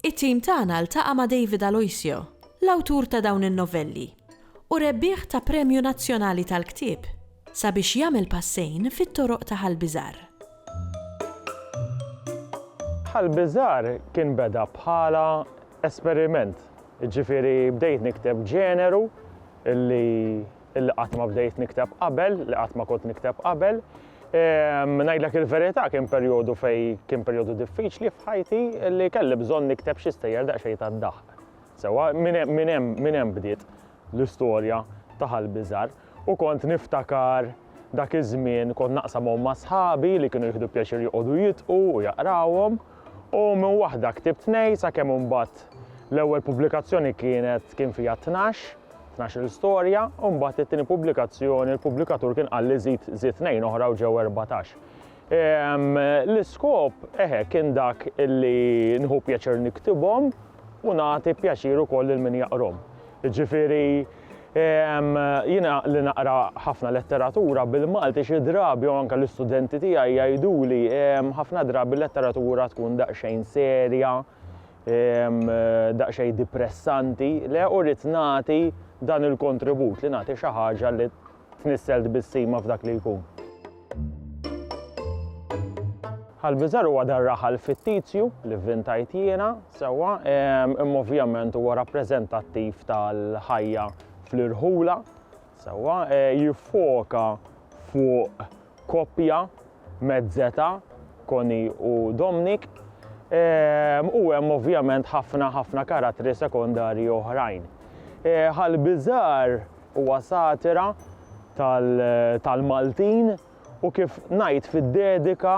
It-tim tagħna ltaqa' ma' David Aloisio, l-awtur ta' dawn in-novelli u rebbieħ ta' Premju Nazzjonali tal-Ktieb, sabiex jagħmel passejn fit-toroq ta' Ħal Biżgħar. Ħal Biżgħar kien beda bħala esperiment, jiġifieri bdejt nikteb ġeneru li li qatt ma bdejt nikteb qabel, li qatt ma kont nikteb qabel. Ehm, ngħidlek il-verità kien perjodu fej kien perjodu diffiċli f'ħajti li kelli bżonn nikteb xi stejjer daqsxejn tad-daħq. Sewa minn hemm bdiet l-istorja ta' ħal-biżar u kont niftakar dak iż-żmien kont naqsam ma' sħabi li kienu jieħdu pjaċir joqogħdu jitqu u jaqrawhom u minn waħda ktibt nej sakemm imbagħad l-ewwel pubblikazzjoni kienet kien fiha tnax Tnax-il storja u mbagħad it-tieni pubblikazzjoni l-pubblikatur kien qal li żid żid tnejn oħra u ġew erbatax. Ehm, l-iskop eħe kien dak illi nħu pjaċir niktibhom u nagħti pjaċir ukoll lil min jaqrom. Ġifieri ehm, jiena li naqra ħafna letteratura bil-Malti xi drabi u anke l-istudenti tiegħi jgħiduli ehm, ħafna drabi letteratura tkun daqsxejn serja, daqsxejn dipressanti, le u rrid nagħti dan il-kontribut, li nagħti xi ħaġa li tnissel tbissima f'dak li jkun. Ħal-Biżar huwa dan raħal fittizju li vvintajt jiena, sewwa, imma ovvjament huwa rappreżentattiv tal-ħajja fl-irħula, Sewwa, jiffoka fuq koppja mezzeta, Connie u Dominic, u hemm ovvjament ħafna ħafna karattri sekondarji oħrajn. Ħal Biżgħar huwa satira tal-Maltin u kif ngħid fid-dedika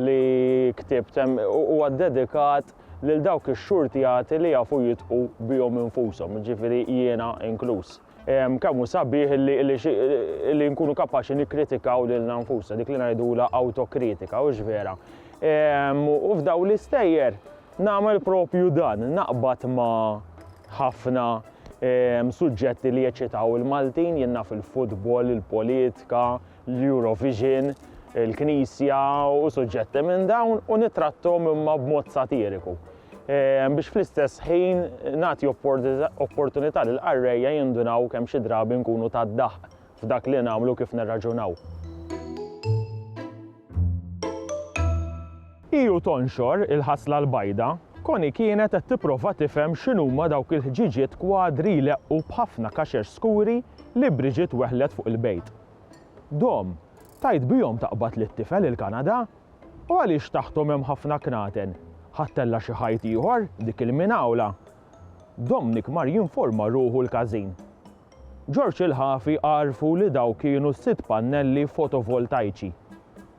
li ktibt hemm huwa ddedikat lil dawk ix-xurtjati li jafu jidħqu bihom infushom, jiġifieri jiena inkluż. Kemm hu sabiħ li nkunu kapaċi nikkritikaw lilna nfusna, dik li ngħidulha awtokritika, hux vera? U f'daw l-istejjer nagħmel propju dan, naqbad ma' ħafna suġġetti li jeċitaw il-Maltin, jien naf il-futbol, il-politika, l-Eurovision, il-Knisja u suġġetti minn dawn u nitrattom imma b'mod satiriku. Ehm, biex fl-istess ħin nagħti opportunità l qarrejja jindunaw kemm xi drabi nkunu ta' daħq f'dak li nagħmlu kif nirraġunaw. Iju tonxor il-ħasla l-bajda, Koni kienet qed tipprova tifhem x'inhuma dawk il-ħġiġiet kwadri leqqu b'ħafna kaxex skuri li Bridget weħlet fuq il-bejt. Dom, tajt bihom taqbad lit-tifel il-Kanada? U għaliex taħthom hemm ħafna knaten? Ħadtella xi ħajt ieħor, dik il-minawla? Domnik mar jinforma ruħu l-każin. Ġorġ il-Ħafi għarfu li dawk kienu s-sitt pannelli fotovoltajċi.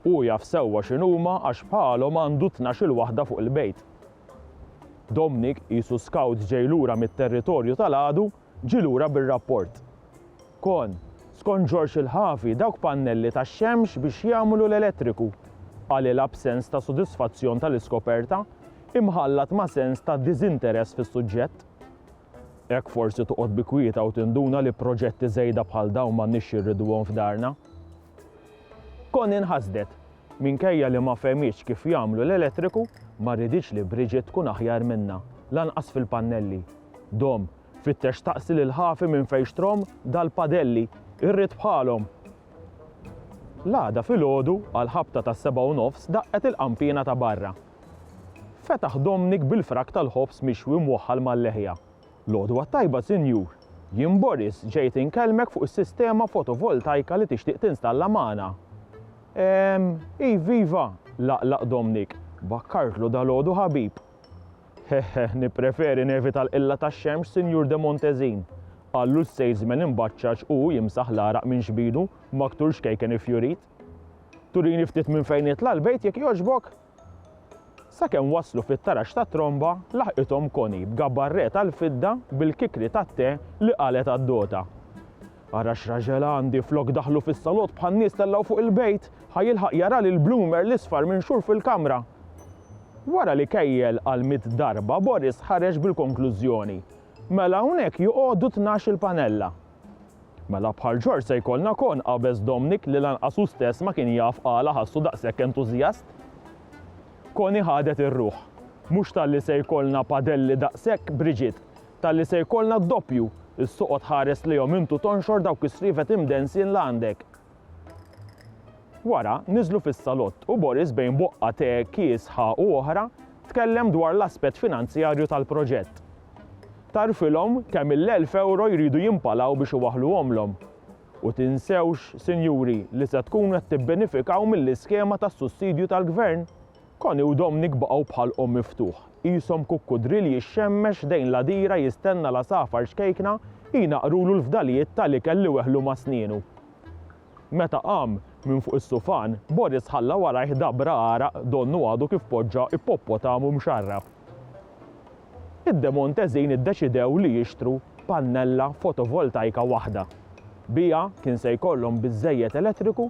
Hu jaf sewwa x'inhuma għax bħalhom għandu tnax-il waħda fuq il-bejt. Domnik, qisu skawt ġej lura mit-territorju tal-għadu, ġie lura bir-rapport. Kon, skont Ġorġ il-Ħafi, dawk pannelli tax-xemx biex jagħmlu l-elettriku. Qalilha b'sens ta' sodisfazzjon tal-iskoperta, imħallat ma' sens ta' diżinteress fis-suġġett. Hekk forsi toqgħod bi kwieta u tinduna li proġetti żejda bħal dawn m'għandniex jirriduhom f'darna. Kon inħasdet. Minkejja li ma fehmitx kif jagħmlu l-elettriku, ma riditx li Bridget tkun aħjar minnha, lanqas fil-pannelli. Dom, fittex staqsi lil ħafi minn fejn xtrahom dal-padelli. Irrid bħalhom! L-għada filgħodu, għall-ħabta tas-sebgħa u nofs daqqet il-qanpiena ta' barra. Fetaħ Domnik bil-frak tal-ħobż mixwi mwaħħal mal-leħja. L-għodwa t-tajba, sinjur! Jien Boris ġejt inkellmek fuq is-sistema fotovoltajka li tixtieq tinstalla magħna. Ehm, iv, iva! laqlaq Domnik. Bakkartlu dalgħodu ħabib. Heħħeħ, nippreferi nevita l-qilla tax-xemx, Sinjur de Montezin, qallu s-salesman imbaċċaċ u, jimsaħ l-għaraq minn xbidu, b'aktur xkejken iffjurit. Turini ftit minn fejn jitla' l-bejt jekk jogħġbok? Sakemm waslu fit-taraġ tat-tromba, laħqithom Connie b'gabarretta l-fidda bil-kikri tat-te li qalgħet għad-dota. Ara x'raġel għandi, flok daħlu fis-salott bħan-nies tellgħu fuq il-bejt, ħa jilħaq jara lil Bloomer l-isfar minxur fil-kamra. Wara li kejjel għal mitt darba, Boris ħareġ bil-konklużjoni, Mela hawnhekk joqogħdu tnax-il panella. Mela bħal George se jkollna kon, qabeż Domnic li lanqas hu stess ma kien jaf għala ħassu daqshekk entużjast. Connie ħadet ir-ruħ. Mhux talli se jkollna padelli daqshekk, Bridget, talli se jkollna d-doppju, is-soqgħod tħares lejhom int u tonxor dawk is-sriefet imdensjin li għandek. Wara, niżlu fis-salott u Boris bejn boqqa te, kiesħa u oħra, tkellem dwar l-aspett finanzjarju tal-proġett. Tagħrfilhom kemm il-elf ewro jridu jimpalaw biex iwaħħluhomlhom. U tinsewx, sinjuri, li se tkunu qed tibbenifikaw mill-iskema tas-sussidju tal-Gvern. Connie u Dominic baqgħu bħal omm miftuħ, qishom kukkudri li jixxemmex ħdejn l-għadira jistenna l-għasafar ċkejkna jnaqqrulu l-fdalijiet tal-ikel li weħlu ma' snienu. Meta qam minn fuq is-sufan, Boris ħalla warajh dabra għaraq donnu għadu kif poġġa ippoppotamu mxarrab. Id-Demontesin iddeċidew li jixtru pannella fotovoltajka waħda. Biha kien se jkollhom biżżejjed elettriku